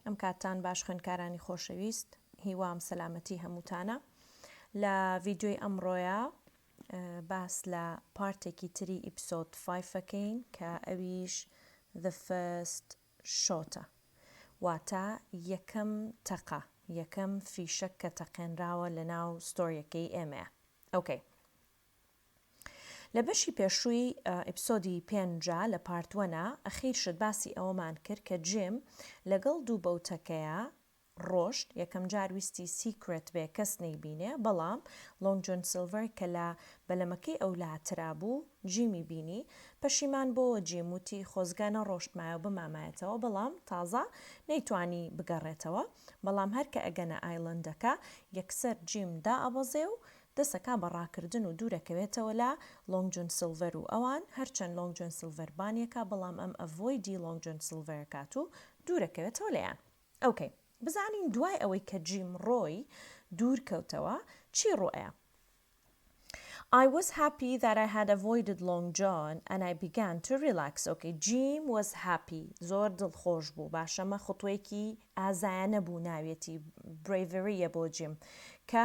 ئەم کاتتان باش خوێندکارانی خۆشەویست هیوام سەلامەتی هەمووتانە لە ڤیدیۆی ئەمڕۆیە باس لە پارتێکی تری ئیپسۆد فایفەکەین کە ئەویش the first shot واتە یەکەم تەقە یەکەم فیشەک کە تەقێنراوە لە ناو ستۆریەکەی ئێمەیە ئۆکەی لە بەشی پێشووی ئیپسۆدی پێنجا لە پارت وەنا ئەخیر شت باسی ئەوەمان کرد کە جیم لەگەڵ دوو بەوتەکەیا ڕۆشت یەکەم جار ویستی سیکرێت بێ کەس نەیبینێ بەڵام لۆنگ جۆن سیلڤەر کە لە بەلەمەکەی ئەو لاترا بوو جیمی بینی پەشیمان بۆوە جیم وتی خۆزگە نەڕۆشتمایەو بمامایەتەوە بەڵام تازە نەیتوانی بگەڕێتەوە بەڵام هەر کە ئەگەنە ئایلەندەکە یەکسەر جیم دائەبەزێ و دەسەکا بە ڕاکردن و دوورەکەوێتەوە لە لۆنگ جۆن سیلڤەر و ئەوان، هەرچەند لۆنگ جۆن سیلڤەر بانیەکا بەڵام ئەم ئەڤۆیدی لۆنگ جۆن سیلڤەرەکات و دوورەکەوێتەوە لێیان. ئۆکەی بزانین دوای ئەوەی کە جیم ڕۆی دوورکەوتەوە چی ڕوو ئەیا. ئای وەز هاپی دات ئای هاد ئەڤۆیدد لۆنگ جۆن ئەن ئای بیگان تو ڕیلاکس ئۆکەی جیم وەز هاپی زۆر دڵخۆش بوو باشە ئەمە خوتوەیەکی ئازایانە بوو ناویەتی برەیڤری یە بۆ جیم کە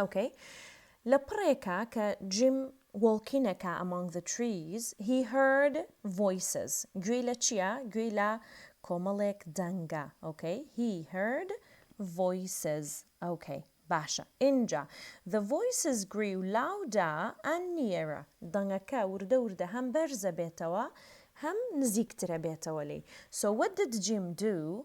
ئۆکەی لە پڕێکا کە جیم وۆڵکین ئەکا ئەمۆنگ زە تریس هی هەرد ڤۆیسز گوێی لە چیە گوێی لە کۆمەڵێک دەنگە ئۆکەی هی هەرد ڤۆیسز ئۆکەی باشە ئینجا زە ڤۆیسز گریو لاودا ئەن نییەرە دەنگەکە وردە وردە هەم بەرزە بێتەوە هەم نزیکترە بێتەوە لێی سۆ وەت دد جیم دوو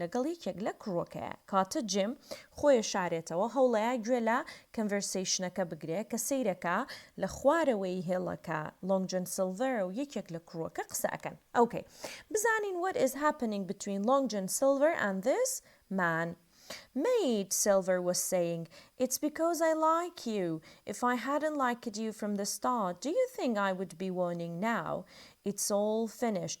لەگەڵ یەکێک لە کڕوەکەیا کاتە جیم خۆێ شارێتەوە هەوڵەیا گوێ لە کەنڤێرسەیشنەکە بگرێ کە سەیرەکا لە خوارەوەی هێڵەکە لۆنگ جۆن سیلڤەر و یەکێک لە کڕوەکە قسە ئەکەن ئۆکەی بزانین وەت ئیز هاپنینگ بتوین لۆنگ جۆن سیلڤەر ئەند ذیس مەن مەید سیلڤەر وەز سەیینگ ئیتس بیکۆز ئای لایک یو ئیف ئای هادنت لایکد یو فرۆم دە ستارت دو یو ثینک ئای وود بی وۆنینگ ناو ئیتس ئۆڵ فینیشد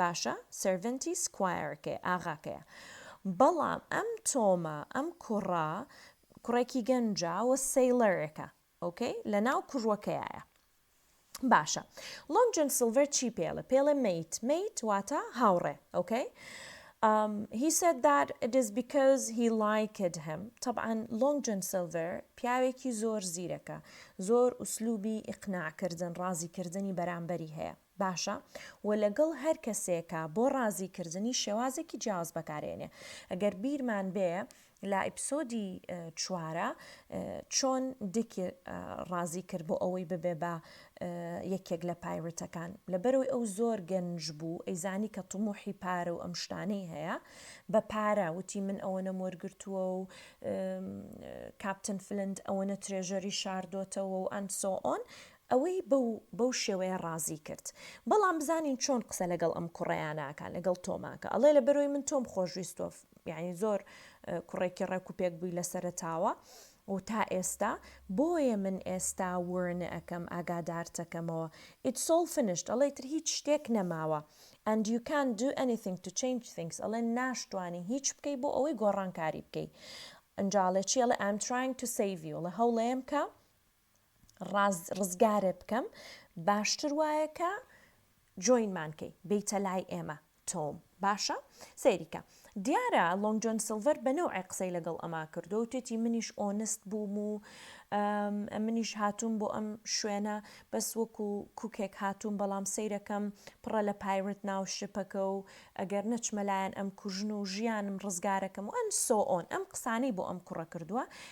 باشە سێرڤنتی سکوایەرەکەی ئاغاکەیە بەڵام ئەم تۆمە ئەم کوڕە کوڕێکی گەنجە و سەیڵەرێکە ئۆکەی لەناو کوڕوەکەیایە باشە لۆنگ جۆن سیلڤەر چی پێڵێ پێڵێ مەیت مەیت واتە هاوڕێ ئۆکەی Um, he said that it is because he liked him. طبعا Long John Silver پیاوێکی زۆر زیرەکە زۆر ئوسلوبی ئیقناع کردن ڕازی کردنی بەرامبەری هەیە باشە و لەگەڵ هەر کەسێکا بۆ ڕازی کردنی شێوازێکی جیاواز بەکارێنێ گەر بیرمان بێ لە ئیپسۆدی چوارە چۆن دیکی ڕازی کرد بۆ ئەوەی ببێ بە یەکێک لە پایرتەکان لەبەرەوەی ئەو زۆر گەنج بوو ئەیزانی کە طموحی پارە و ئەم شتانەی هەیە بە پارە وتی من ئەوەنەم وەرگرتووە و کاپتن فلند ئەوەنە ترێژەری شاردۆتەوە و ئەند سۆ ئۆن ئەوەی بەو بەو شێوەیە ڕازی کرد. بەڵام بزانین چۆن قسە لەگەڵ ئەم کوڕەیانە ئەکا لەگەڵ تۆماکە ئەڵێ لەبەرەوەی من تۆم خۆشویستوە یانی زۆر کوڕێکی ڕێکو پێک بووی لە سەرەتاوە و تا ئێستا بۆیە من ئێستا ورن ئەکەم ئاگادارتەکەمەوە It's all finished ئەڵێ ئیتر هیچ شتێک نەماوە and you can't do anything to change things ئەڵێ ناشتوانی هیچ بکەی بۆ ئەوەی گۆڕانکاری بکەی ئەنجا ئەڵێ چی ئەڵێ I'm trying to save you ئەڵێ هەوڵەیەم کە ڕاز ڕزگارێ بکەم باشتر وایە کە جۆینمان کەی بیتە لای ئێمە تۆم باشە سەیریکە دیارە لۆنگ جۆن سلڤەر بە نەوعی قسەی لەگەڵ ئەما کردو و تێتی منیش ئۆنست بووم و منیش هاتووم بۆ ئەم شوێنە بەس وەکو کوکێک هاتووم بەڵام سیرەکەم پڕە لە پایرت ناو شپەکە و ئەگەر نەچمەلایەن ئەم کوژن و ژیانم ڕزگارەکەم و ئەن سۆئۆن ئەم قسانەی بۆ ئەم کوڕە کردووە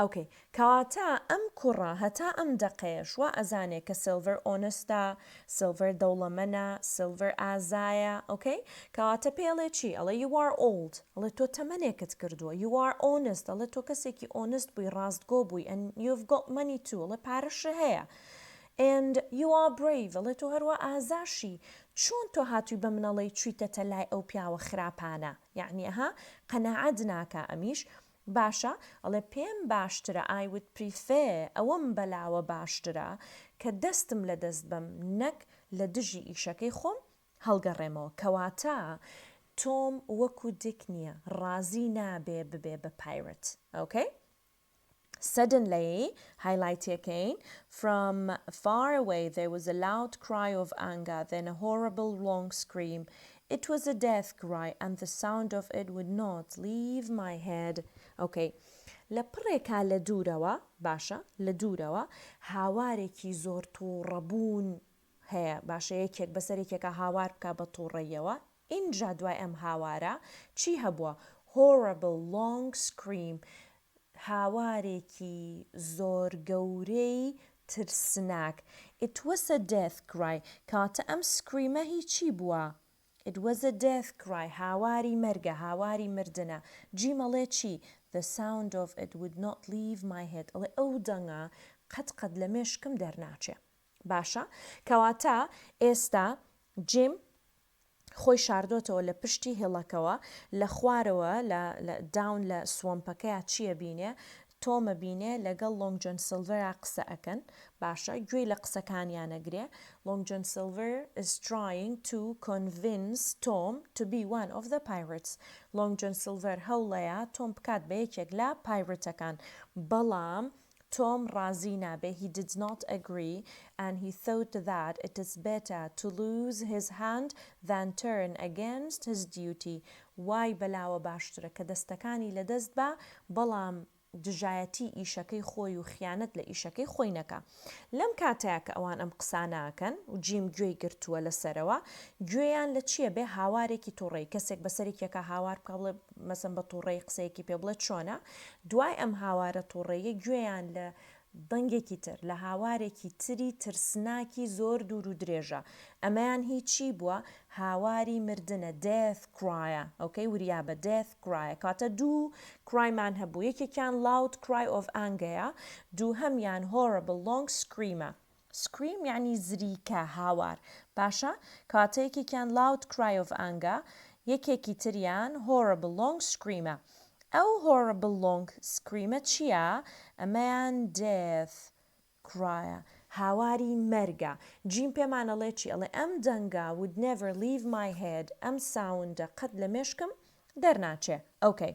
ئۆکەی کەواتە ئەم کوڕە هەتا ئەم دەقەیەش وا ئەزانێ کە سیلڤەر ئۆنستە سیلڤەر دەوڵەمەنە سیلڤەر ئازایە ئۆکەی کەواتە پێ ئەڵێ چی ئەڵێ یو ئار ئۆڵد ئەڵێ تۆ تەمەنێکت کردووە یو ئار ئۆنست ئەڵێ تۆ کەسێکی ئۆنست بووی ڕاستگۆ بووی ئەن یو هەڤ گۆت مەنی تو ئەڵێ پارەشت هەیە ئەند یو ئار برەیڤ ئەڵێ تۆ هەروا ئازاشی چۆن تۆ هاتووی بە من ئەڵێی چوویتەتە لای ئەو پیاوە خراپانە یەعنی ئەها قەناعەت ناکا ئەمیش باشە ئەڵێ پێم باشترە I would prefer ئەوەم بەلاوە باشترە کە دەستم لە دەست بەم نەک لە دژی ئیشەکەی خۆم هەڵگەڕێمەوە کەواتە تۆم وەکو دیک نیە ڕازی نابێ ببێ بە پایرەت ئۆکەی Suddenly هایلایتیەکەین From far away there was a loud cry of anger then a horrible long scream It was a death cry and the sound of it would not leave my head okay لە پڕێکا لە دوورەوە باشە لە دوورەوە هاوارێکی زۆر تووڕە بوون هەیە باشە یەکێک بەسەر یەکێکا هاوار بکا بە تووڕەییەوە ئینجا دوای ئەم هاوارە چی هەبووە horrible long scream هاوارێکی زۆر گەورەی ترسناک It was a death cry کەواتە ئەم Scream-ە هی چی بووە؟ It was a death cry هاواری مەرگە، هاواری مردنە. جیم ئەڵێ چی؟ The sound of it would not leave my head ئەڵێ ئەو دەنگە قەت قەت لە مێشکم دەرناچێ. باشە کەواتە ئێستا جیم خۆی شاردۆتەوە لە پشتی هیڵەکەوە لە خوارەوە لە داون لە سوەمپەکەیا چیە بینێ تۆمە بینێ لەگەڵ لۆنگ جۆن سلڤەرا قسە ئەکەن باشە گوێی لە قسەکانیانەگرێ لۆنگ جۆن سلڤەر is trying to convince Tom to be one of the pirates لۆنگ جۆن سلڤەر هەوڵەیە تۆم بکات بە یەکێک لە پایرتەکان بەڵام تۆم ڕازی نابێ he did not agree and he thought that it is better to lose his hand than turn against his duty وای بەلاوە باشترە کە دەستەکانی لە دەست با بەڵام دژایەتی ئیشەکەی خۆی و خیانەت لە ئیشەکەی خۆی نەکا لەم کاتەیا کە ئەوان ئەم قسانە ئەکەن و جیم گوێی گرتووە لە سەرەوە گوێیان لە چیە بێ هاوارێکی توڕەی کەسێک بە سەرێکی ئەکا هاوار بکا بڵێ مەسەن بە توڕەیی قسەیەکی پێ بڵێ چۆنە دوای ئەم هاوارە توڕەیە گوێیان لە دەنگێکی تر لە هاوارێکی تری ترسناکی زۆر دوور و درێژە ئەمەیان هی چی بووە هاواری مردنە Death Cry ئۆکەی وریابە Death Cry کاتە دوو Cry مان هەبوو یەکێکیان Loud Cry of Angea دووهەمیان Horrible Long Scream ە. Scream یانی زریکە، هاوار. باشە کەواتە یەکێکیان Loud Cry of Anga یەکێکی تریان Horrible Long Scream ە. ئەو Horrible Long Scream ە چیە؟ ئەمەیان Death Cry ە، هاواری مەرگە. جیم پێمان ئەڵێ چی؟ ئەڵێ ئەم دەنگە Would Never Leave My Head ئەم ساوندە قەت لە مێشکم دەرناچێ. ئۆکەی.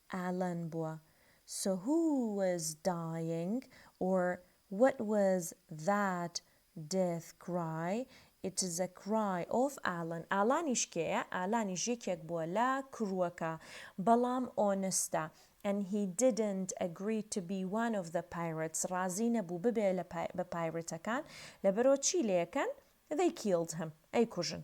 ئالان بووە سۆ هو واز دایینگ ئۆر وات واز ذات دێث کرای ئیت ئیز ئە کرای ئۆف ئالان ئالانیش کێیە ئالانیش یەکێک بووە لە کروەکە بەڵام ئۆنستە ئەن هی دیدنت ئەگری تو بی وان ئۆف ذە پایرەتس ڕازی نەبوو ببێ بە پایرەتەکان لەبەرئەوە چی لێکەن ذەی کیلد هیم ئەیکوژن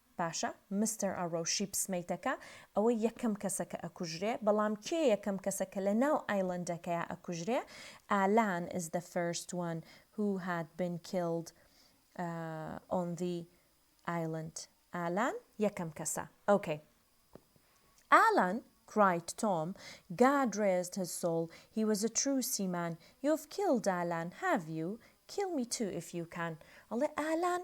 باشە مستەر ئارۆ شیپس مەیتەکە ئەوە یەکەم کەسە کە ئەکوژرێ بەڵام کێ یەکەم کەسە کە لە ناو ئایلەندەکەیا ئەکوژرێ ئالان ئیز دە فێرست وەن هو هاد بین کیلد ئۆن ذی ئایلەند ئالان یەکەم کەسە ئۆکەی ئالان کرایت تۆم گاد ڕێزد هیز سۆڵ هی وەز ئە ترو سیمان یۆڤ کیلد ئالان هاڤ یو کیل می تو ئیف یو کان ئەڵێ ئالان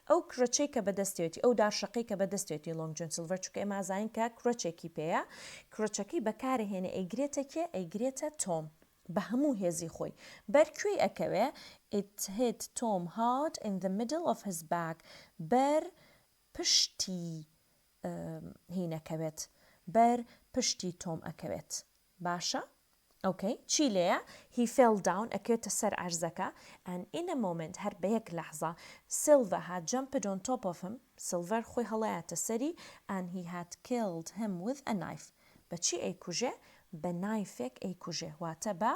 ئەو کرەچەی کە بەدەستیەتی، ئەو دارشەقەی کە بەدەستیەتی لۆنگ جۆن سیلڤەر چونکە ئێمە ئازاین کە کرەچێکی پێیە کرەچەکەی بەکارەهێنێ ئەیگرێتە کێ ئەیگرێتە تۆم بە هەموو هێزی خۆی بەر کوێی ئەکەوێ It hit Tom hard in the middle of his back بەر پشتی هینەکەوێت بەر پشتی تۆم ئەکەوێت باشە ئۆکەی چی لێیە He fell down ئەکەوێتە سەر عەرزەکە and in a moment هەر بە یەک لەحزە Silva had jumped on top of him سیلڤەر خۆی هەڵایاتە سەری and he had killed him with a knife بە چی ئەیکوژێ بە نایفێک ئەیکوژێ واتە بە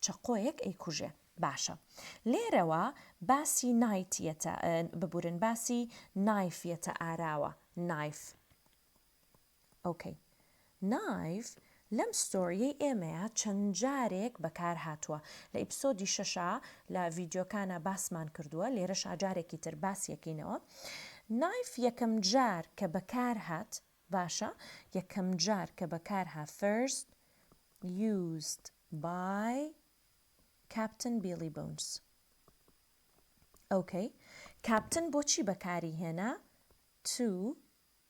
چەقۆیەک ئەیکوژێ باشە لێرەوە باسی نایت یەتە ببورن باسی نایف یەتە ئاراوە Knife ئۆکەی نایڤ لەم ستۆریەی ئێمەیا چەند جارێک بەکار هاتوە لە ئیپسۆدی شەشا لە ڤیدیۆکانا باسمان کردوە لێرەشا جارێکی تر باسی یەکەینەوە نایڤ یەکەم جار کە بەکار هات باشە یەکەم جار کە بەکار ها first used by captain billy bones ئۆکەی کاپتن بۆچی بەکاری هێنا to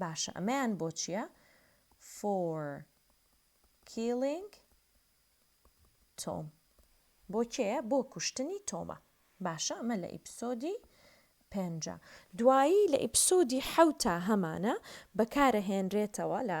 باشە ئەمەیان بۆ چیە for killing Tom بۆ کێیە بۆ کوشتنی تۆمە باشە ئەمە لە ئیپسۆدی پێنجە دوایی لە ئیپسۆدی حەوتا هەمانە بەکارە هێنرێتەوە لە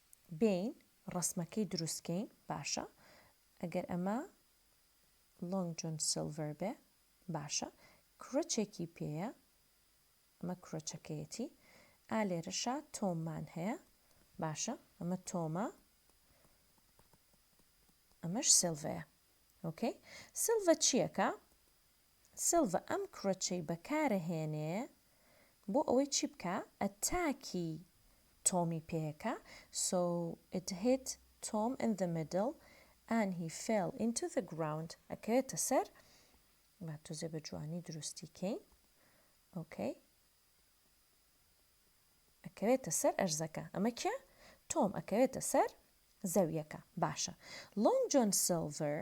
بێین ڕەسمەکەی دروستکەین باشە ئەگەر ئەمە لۆنگ جۆن سیلڤەر بێ باشە کرۆچێکی پێیە ئەمە کرۆچەکەیەتی ئا لێرەشا تۆممان هەیە باشە ئەمە تۆمە ئەمەش سلڤەیە ئۆکەی سلڤە چیەکە سیلڤا ئەم کڕچەی بەکارەهێنێ بۆ ئەوەی چی بکا ئەتاکی تۆمی پێکا so it hit Tom in the middle and he fell into the ground ئەکەوێتە سەر با تۆزێ بە جوانی دروستی کەین ئۆکەی ئەکەوێتە سەر ئەرزەکە ئەمە کێ تۆم ئەکەوێتە سەر زەویەکە باشە لۆنگ جۆن سیلڤەر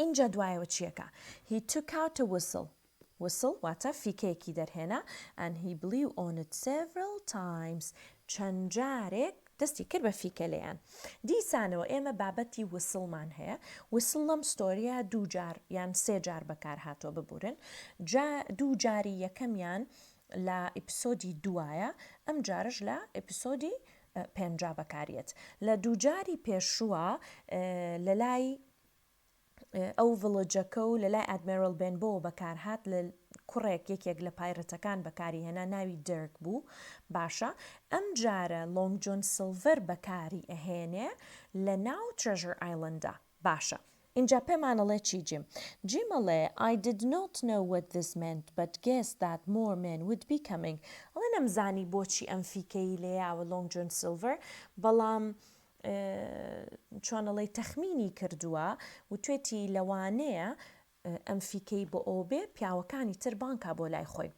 ئینجا دوایەوە چیەکا He took out a whistle whistle واتە فیکەیەکی دەرهێنا and he blew on it several times چەند جارێک دەستی کرد بە فیکە لێیان دیسانەوە ئێمە بابەتی whistle مان هەیە whistle لەم ستۆریە دوو جار یان سێ جار بەکار هاتووە ببورن جا دوو جاری یەکەمیان لە ئیپسۆدی دوایە ئەم جارش لە ئیپسۆدی پێنجا بەکاریەت لە دووجاری پێشووە لەلای ئەو ڤڵجەکە و لەلای ئادمێرل بێنبۆوە بەکارهات لە کوڕێک یەکێک لە پایرەتەکان بەکاری هێنا ناوی دەرک بوو باشە ئەم جارە لۆنگ جۆن سلڤەر بەکاری ئەهێنێ لە ناو ترژر ئایلندە باشە ئینجا پێمانەڵێ چی جیم؟ جیم ئەڵێ I did not know what this meant but guessed that more men would be coming ئەڵێ نەمزانی بۆچی ئەم فیکەیی لێیاوە لۆنگ جۆن سیلڤەر بەڵام چۆن ئەڵێی تەخمینی کردووە وتوێتی لەوانەیە ئەم فیکەی بۆ ئەوە بێ پیاوەکانی تر بانگ کا بۆ لای خۆی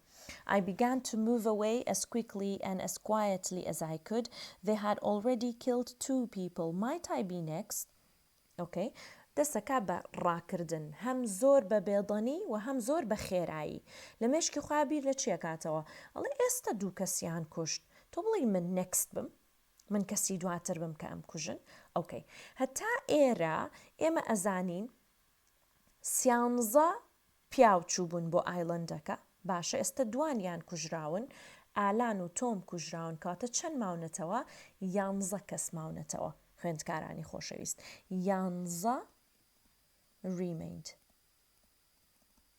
I began to move away as quickly and as quietly as I could They had already killed two people Might I be next okay دەستە کا بە ڕاکردن هەم زۆر بە بێدەنی و هەم زۆر بە خێرایی لە مێشکی خۆیا بیر لە چی ئەکاتەوە ئەڵێ ئێستە دوو کەسیان کوشت تۆ بڵێی من next بم من کەسی دواتر بم کە ئەمکوژن okay هەتا ئێرە ئێمە ئەزانین سیانزە پیاو چووبوون بۆ ئایلەندەکە، باشە ئێستە دوانیان کوژراون، ئالان و تۆم کوژراون کەواتە چەند ماونەتەوە؟ یانزە کەس ماونەتەوە خوێندکارانی خۆشەویست یانزە ریمەیند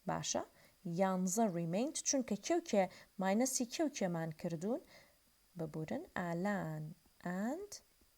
باشە یانزە ریمەیند چونکە کێو کێ ماینەسی کێو کێمان کردوون ببورن ئالان ئەند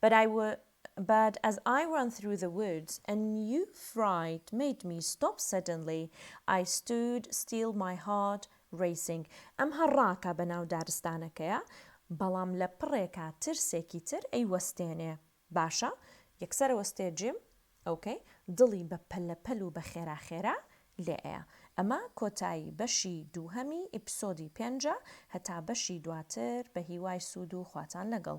But I wa But as I ran through the woods a new fright made me stop suddenly I stood still my heart racing ئەم هەر ڕاکە بە ناو دارستانەکەیە بەڵام لە پڕێکا ترسێکی تر ئەی وەستێنێ باشە یەکسەر ئەوەستێ جیم ok دڵی بە پەلە پەل و بە خێرا خێرا لێ ئەیا ئەمە کۆتایی بەشی دووهەمی ئیپسۆدی پێنجە هەتا بەشی دواتر بە هیوای سوود و خواتان لەگەڵ.